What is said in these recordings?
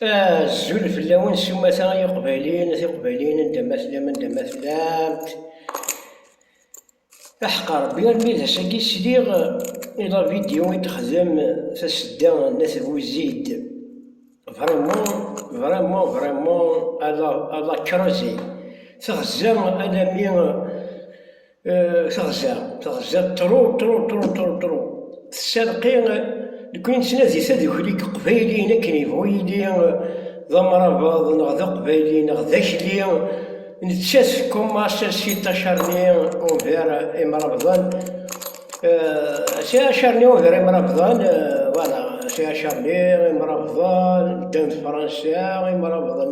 Azul fell-awen s umata ay iqbayliyen, a tiqbayliyin anda ma tellam, anda ma tellamt. Aḥeqqa Rebbi armi d ass-agi sliɣ i la vidéo i texdem tasedda n At Buzid. Vraiment, vraiment, vraiment, à la, à la creuse. Teɣza alammi Euh, teɣza teɣza tru tru tru tru tru tesserqi nekni nettnadi tadukli deg qbayliyen akken yebɣu yili d amrabeḍ neɣ d aqbayli neɣ d akli nettat tkumas si tacarni ugar imrabḍen si acarni ugar imrabḍen voilà si acarni imrabḍen ddan d fransa imrabḍen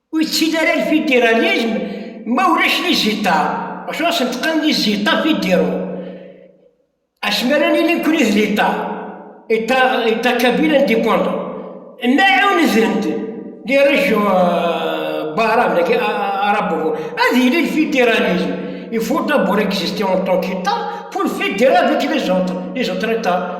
Ur yettili ara lfidiralism ma ulac liziṭa, acu asen teqqen liziṭa fidiro, asmi ara nili nekkni d liṭa, état kabyle indépendant, ma ɛunden-d les régions arabes, dagi arabovo, ad yili lfidiralism, il faut d'abord exister en tant qu'État pour le fédérer avec les autres, les autres États.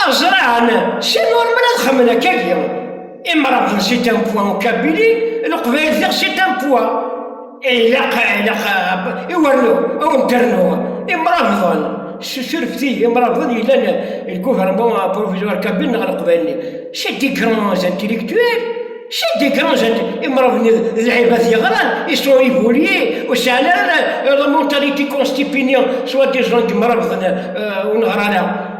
Aɣezraɛen Cen ur mel ad xemmen akkagi, imrabḍen si Tampuwa u Kabili, Leqbayel diɣ si Tampuwa. Ilaq, ilaq i wernu, a wen-d-rnu, imrabḍen, s turfti, imrabḍen yellan le gouvernement provisoire Kabili neɣ Leqbayel-nni, c'est des grands intellectuels, c'est des grands intellectuels, imrabḍen-nni d lɛibad yeɣran, ils sont évolués, ur sɛin ara la mentalité constipéniens, soit disant imrabḍen ur neɣri ara.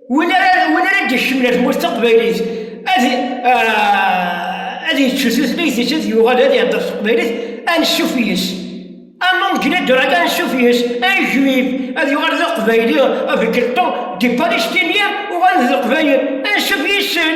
Win ara win ara d-ikecmen ar tmurt taqbaylit ad ah, ad yečč tutlayt-is ad yuɣal ad ihedder s teqbaylit ansuf yes among gina draga ansuf yes ay juif ad yuɣal d aqbayli avec le temps des palestiniens uɣalen d leqbayel ansuf yes-sen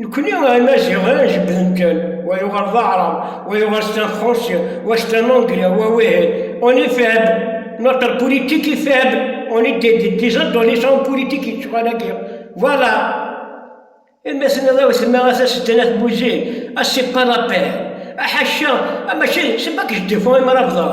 Nekkni a imaziɣen jebbden kan, wa yuɣal d aɛrab, wa yuɣal c'est un français, wa c'est un anglais, wa wihi, on est faible, notre politique est faible, on est des, des, des adolescents politiques yettɣal agi, voilà. Imi tenniḍ i utemma a taseddan at Buzin, a c'est pas la peine, aḥaca, mačči, c'est pas que je défends imrabḍen,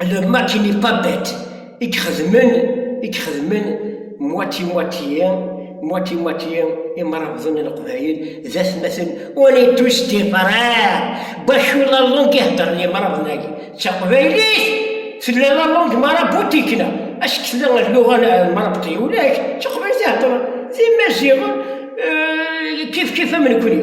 alamma d tin ipabat i ixedmen i ixedmen mwati mwati mwati mwati imrabḍen n leqbayel d atmaten on est tous des frères bac ula langue i heddren imrabḍen-agi d taqbaylit tella la langue maraboutique-na ask tella lluɣa marabṭi ulac d taqbaylit i heddren d imaziɣen kif kif am nekni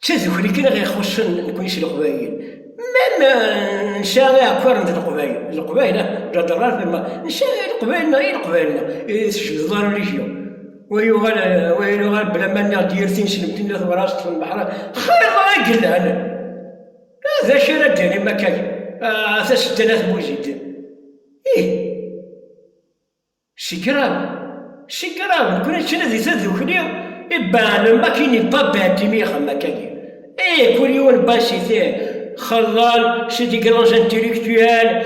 D tadukli kan i ɣ-ixuṣṣen nekkni s Leqbayel. Mem nesɛa iɛekkaren d Leqbayel, d Leqbayel ah, ǧaderrat mem nesɛa i Leqbayel neɣ i Leqbayel neɣ i tejbdeḍ ara rijyon. Wa yuɣal, wa yuɣal bla ma nniɣ-d yir tineslemt n At Mraṣ ṭṭfen leḥra xir ma i yelhan. Ah d acu ara d-tinim akka ah tasedda n At Buzid? Ih. Sigraw, sigraw, nekkni d tnadi tadukli i baɛlem akin i pa Beɛtimi ixemmakagi. Et kul yiwen n bas ite xellal c'est des grands intellectuels,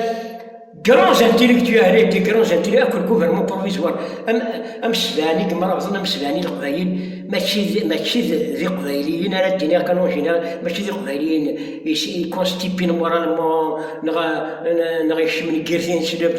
grands intellectuels et des grands intellectuels akk gouvernement provisoire am amsebɛen i yemrabḍen amsebɛen i leqbayel mačči d mačči d d iqbayliyen ara d-iniɣ kan en général mačči d iqbayliyen is i constipin moralement neɣ neɣ ikecmen deg yir tineslemt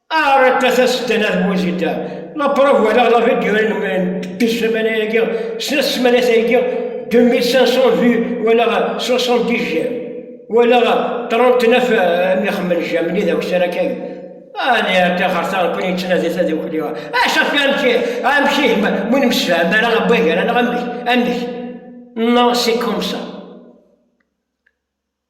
Aret a tasedda n At Buzidda, la preuve walaɣ la vidéo n ssmana-agi, snat ssmanat-agi, 2500 vues walaɣ 70 j'aime, walaɣ 39 am ixemmen j'aime ni d awessar akka agi. Ani ar taxerta nekkni yettnadi tadukli, acu af amek amek ihi ma ur nemsefham ara am wagar anaɣ amek amek, non c'est comme ça.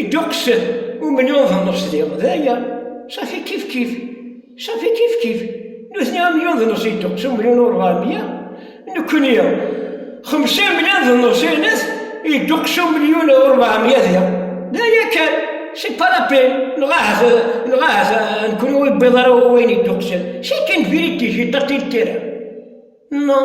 Idduqsen umni uḍnus di d aya safi kif kif safi kif kif nutni am yuḍnus idduqs umni n urɣamya nekni xemsa mlya d nusinet idduqs umliyun d urbaɛmya diɣ d aya kan si parapin neɣ ahat neɣ ahat nekni ur yewwiḍ ara wayen idduqsen si kan vérité j'ai tenté le terrain non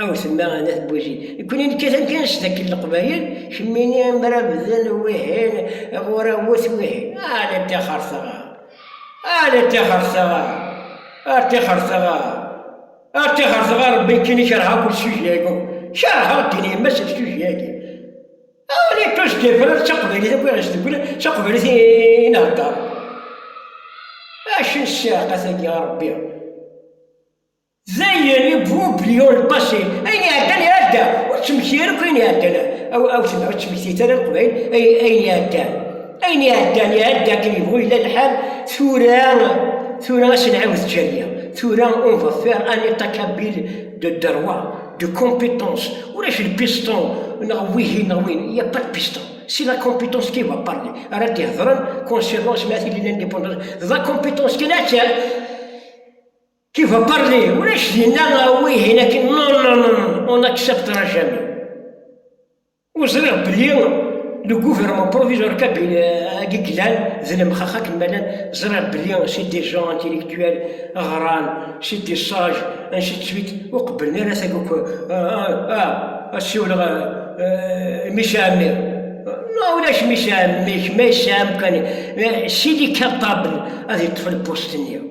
Aw temma a Nna Tbuzi, nekkni nekkat amkan s dakken leqbayel, kemmini mra bden wihin, ɣur awet wihin, ala ttixer teɣa, ala ttixer teɣa, ar ttixer teɣa, ar ttixer teɣa, Rebbi nekkini kerheɣ akk lesujet-agi, kerheɣ ddin yemma s lesujet-agi. Aw li ṭṭus ddifra d taqbaylit akk i ɣ-isduklen, d taqbaylit i nhedder. Acu n ssiɛqa tagi a Rebbi? Dayen, ibubb Léon le Passé, ayen iɛeddan iɛedda, ur ttmekti ara akk ayen iɛeddan, a wten ur ttmektit ara Leqbayel ayen iɛeddan, ayen iɛeddan iɛedda akken yebɣu yella lḥal, tura, tura a s-nɛiwed Djaliya, tura on va faire un état kabyle de droit, de compétence, ulac de piston neɣ wihin neɣ wihin, il n'y a pas de piston, c'est la compétence qui va parler, ara d-ihedren concernant s ma tili l'indépendance, d la compétence kan a tt. Qui va parler? Ulac dinna wihin akin non non non on acceptera jamais. Ur ẓriɣ belli le gouvernement provisoire agi glan d lemxax akken ma llan ẓriɣ belli c'est des gens intellectuels ɣran c'est des sages ainsi de suite ur qebblen ara tagi akk ad siwleɣ mmi Sami ma ulac mmi Sami kemm ay tesɛam kan sidi capable ad yeṭṭef lpust-nni.